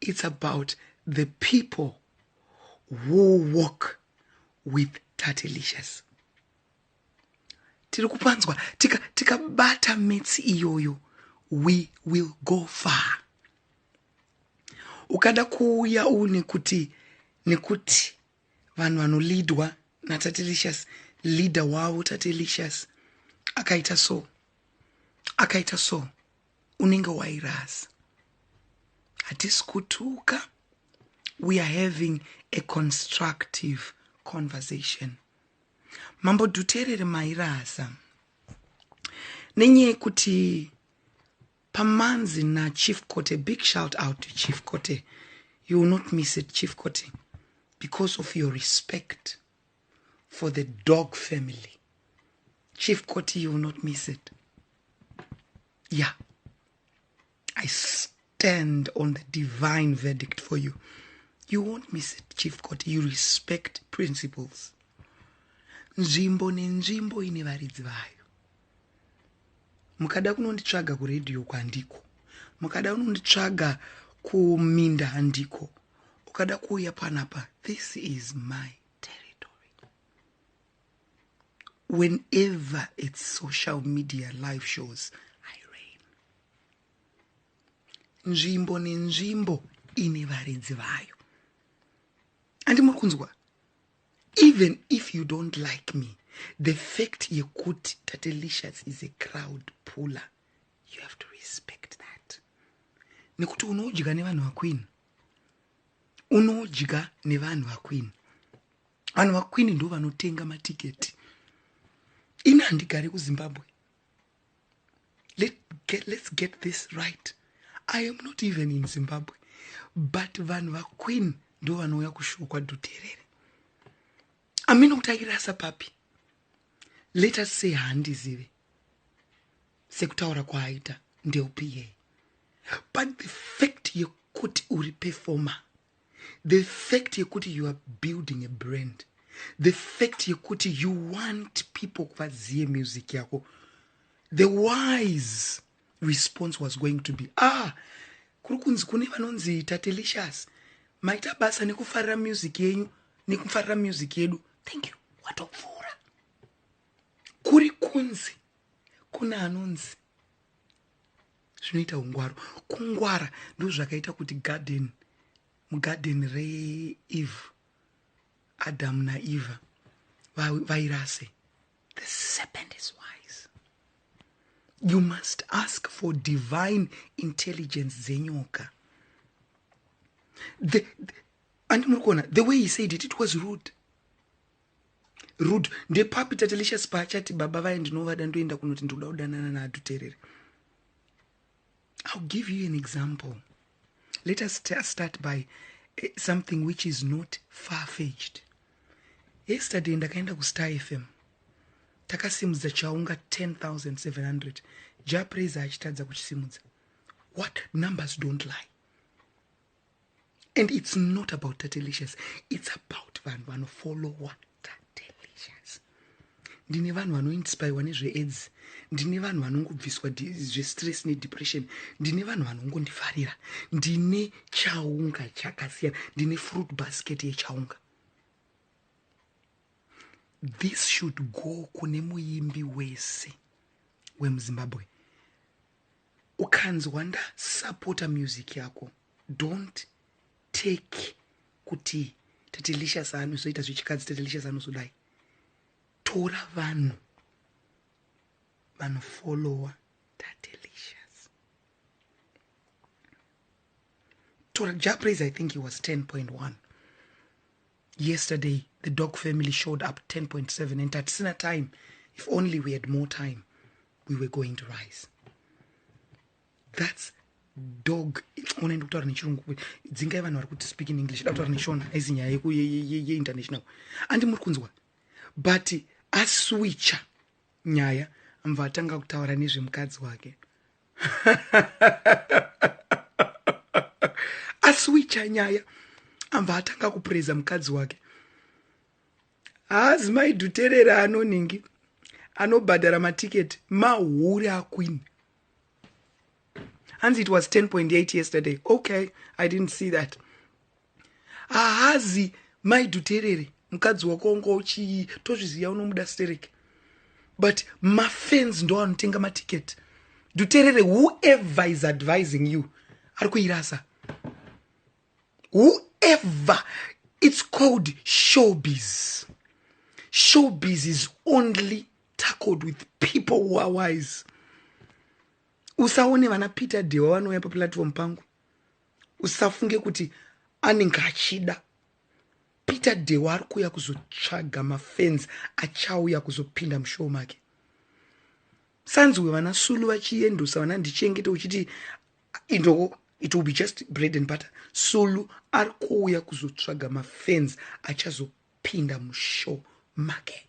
It's about the people who walk with Tatelicious. Tiri kupanzwa tikabata tika metsi iyoyo we will go far. Ukada kuuya une kuti nekuti vanhu vanolidwa natatelicious leader wavo tatelicious akaita so akaita so unenge wairasa hatisi kutuka we are having a constructive conversation mambo dhuterere mairasa nenyaya yekuti pamanzi nachief cote big shout out to chief cote you will not miss it chief cote because of your respect for the dog family chief koti you will not miss it yeah i stand on the divine verdict for you you won't miss it chief koti you respect principles nzvimbo nenzvimbo ine varidzi vayo mukada kunonditsvaga kuredio kwandiko mukada kunonditsvaga kuminda handiko ukada kuuya panapa this is my territory whenever its social media live shows i rain nzvimbo nenzvimbo ine varidzi vayo andi muri kunzwa even if you don't like me the fact yekuti tatelicious is a crowd puller you have to respect that nekuti unodya nevanhu vakwini unodya nevanhu vakwini vanhu vakwini ndo vanotenga matiketi ini handigare kuzimbabwe Let get, let's get this right i am not even in zimbabwe but vanhu vakwini ndo vanouya kushuwa kwadhuterere amina kuti airasa papi let us say handizive sekutaura kwaaita ndeupiye but the fact yekuti uri performer the fact yekuti you are building a brand the fact yekuti you want people kuvaziye music yako the wise response was going to be ah kuri kunzi kune vanonzi tatelicious maita basa nekufarira music yenyu nekufarira music yedu thank you watopfuura kuri kunzi kuna anonzi zvinoita ungwaru kungwara ndozvakaita kuti garden mugarden reeve adamu naeva vairase the serpent is wise you must ask for divine intelligence dzenyoka the, the, and muri kuona the way he said it it was rude rudo ndepapi tatelicious paachati baba vaye ndinovada ndoenda kunoti ndikuda kudanana naadhuterere ill give you an example let us start by eh, something which is not far fetched yesterday ndakaenda kustar fm takasimudza chaunga 10700 japraiser achitadza kuchisimudza what numbers don't lie and it's not about tatelicious it's about vanhu vanofollowa tatelicious ndine vanhu vanoinspirwa nezveaids ndine vanhu vanongobviswa zvestress nedepression ndine vanhu vanongondifarira ndine chaunga chakasiyana ndine fruit basket yechaunga this should go kune muimbi wese wemuzimbabwe ukanzwa ndasapota music yako don't take kuti tatelicious anozoita zvechikadzi tatelicious anozodai tora vanhu vanofollowa tatelicious tora japraise i think he was 10.1 Yesterday the dog family showed up 10.7 and tatisina time if only we had more time we were going to rise thats dog unoenda kutaura nechirungu kuti dzingai vanhu vari kuti speak in english da kutaura neshona aizi nyaya yeinternational andi muri kunzwa but aswicha nyaya mva atanga kutaura nezvemukadzi wake asi wicha nyaya ambva atanga kupureza mukadzi wake haazi maidhuterera anoningi anobhadhara matiketi mahure aqueen hanzi it was 10.8 yesterday okay i didn't see that haazi maidhuterere mukadzi wako wanga uchii tozviziva unomuda stereke but mafans ndo anotenga maticket dhuterere whoever is advising you ari kuirasa whoever it's called showbiz showbiz is only tackled with people who are wise usaone vana peter dewa vanouya paplatform pangu usafunge kuti anenge achida peter dewa ari kuuya kuzotsvaga mafans achauya kuzopinda mushow make sanzwe vana sulu vachiendosa vana ndichengete uchiti inowo it will be just bread and butter sulu ari kuuya kuzotsvaga mafans achazopinda mushow make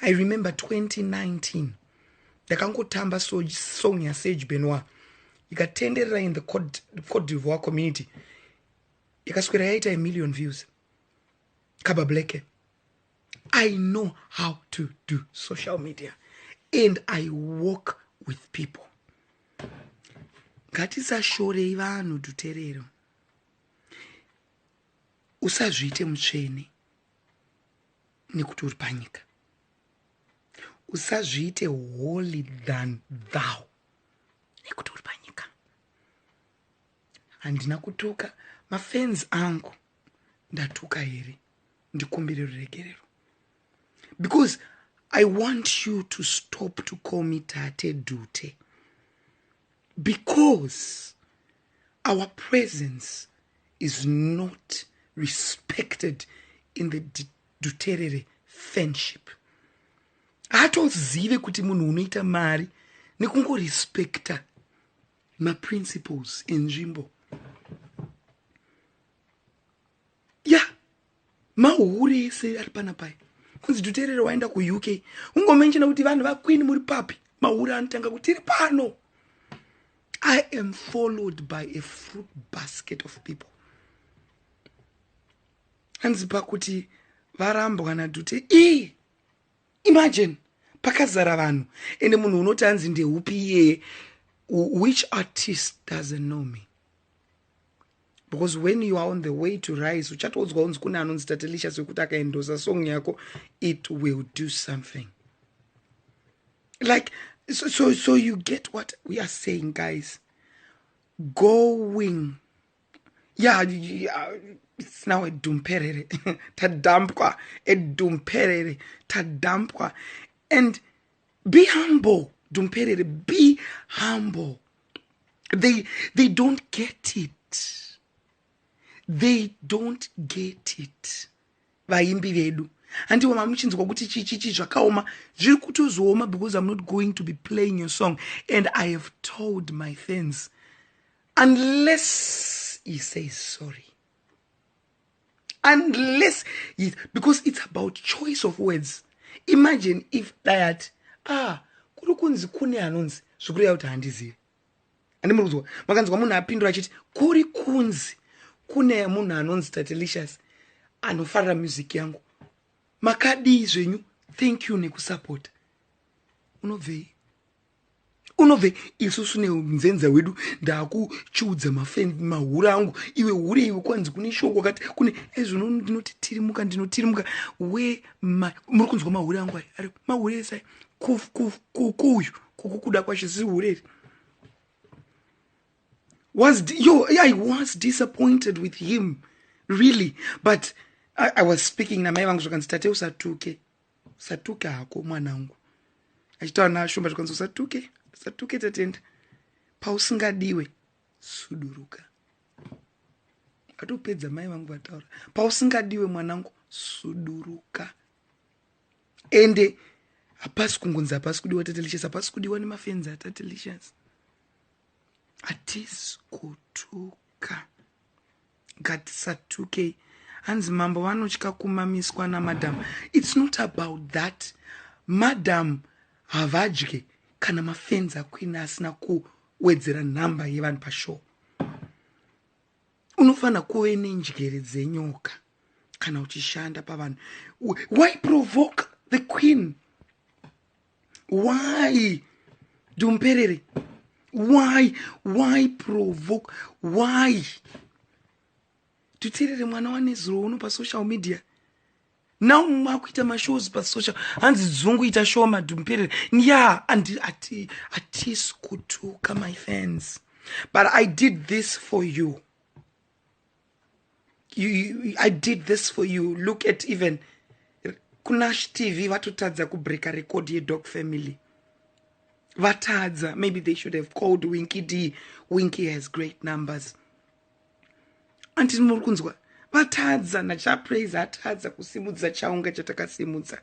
I remember 2019 ndakangotamba song yasage benoir ikatenderera in the cote divoir community ikaswera yaita a million views kaba blacke i know how to do social media and i work with people ngatisashorei vanhu duterero usazviite mutsvene nekuti uri panyika usazviite holy than thou nekuti uri panyika handina kutuka mafans angu ndatuka here ndikumbire ruregerero because i want you to stop to call me tate dute because our presence is not respected in the duterere fanship haatozive kuti munhu unoita mari nekungorespekta maprinciples enzvimbo ya mahure ese ari pana pai kunzi tuterere waenda kuuk ungomenshena kuti vanhu vaqueen muri papi mahure anotanga kuti tiri pano i am followed by a fruit basket of people hanzi pakuti varambwa nadhute ii imagine pakazara vanhu ende munhu unoti hanzi ndeupi iyeye which artist doesn't know me because when you are on the way to rise uchatoudzwa unzi kune anonzi tatelisha sekuti akaendosa song yako it will do something like so, so, so you get what we are saying guys going yeah, yeah it's now edumperere tadampwa edumperere tadampwa and be humble dumperere be humble they, they don't get it they don't get it vaimbi vedu handiwo mamuchinzwa kuti chichichi zvakaoma zviri kutozooma because im not going to be playing your song and i have told my fans unless he says sorry unless yes, because it's about choice of words imagine if dayati ah kuri kunzi kune anonzi zvikureva kuti handizivi andi muri kuzwa makanzwa munhu apindura achiti kuri kunzi kune munhu anonzi tatelicious anofarira music yangu makadii zvenyu thank you nekusapota unobvei unobve isusu neunzenza hwedu ndakuchiudza mafend mahuri angu iwe hure iwe kwanzi kune shoo kwakati kune ezvino ndinotitirimuka ndinotirimuka we muri kunzwa mahure angu aya ari mahure esai kukuyu kukukuda kwashe zii hure iri was yo i was disappointed with him really but i, I was speaking namai vangu zvakanzi tate usatuke usatuke hako mwanangu achitaura naashumba zvikwanisa usatuke usatuke tatenda pausingadiwe suduruka atopedza mai vangu vataura pausingadiwe mwanangu suduruka ende hapasi kungonzi hapasi kudiwa tatelicious hapasi kudiwa nemafenzi atatelicious hatisi kutuka Ngatisatukei hanzi mambo vanotya kumamiswa namadam its not about that madam havadye kana mafenzi akuina asina kuwedzera nhamba yevanhu pashow unofanira kuve nenjere dzenyoka kana uchishanda pavanhu why provoke the queen why dumperere why why provoke why tuterere mwana wanezuro uno pasocial media now makuita mashows pasocial hanzi dzungu ita show madumperere ya andi ati atisi kutuka my fans but i did this for you i did this for you look at even kunash tv vatotadza kubreaka record yedog family vatadza maybe they should have called winky d winky has great numbers anti muri kunzwa vatadza nachapraise atadza kusimudza chaunga chatakasimudza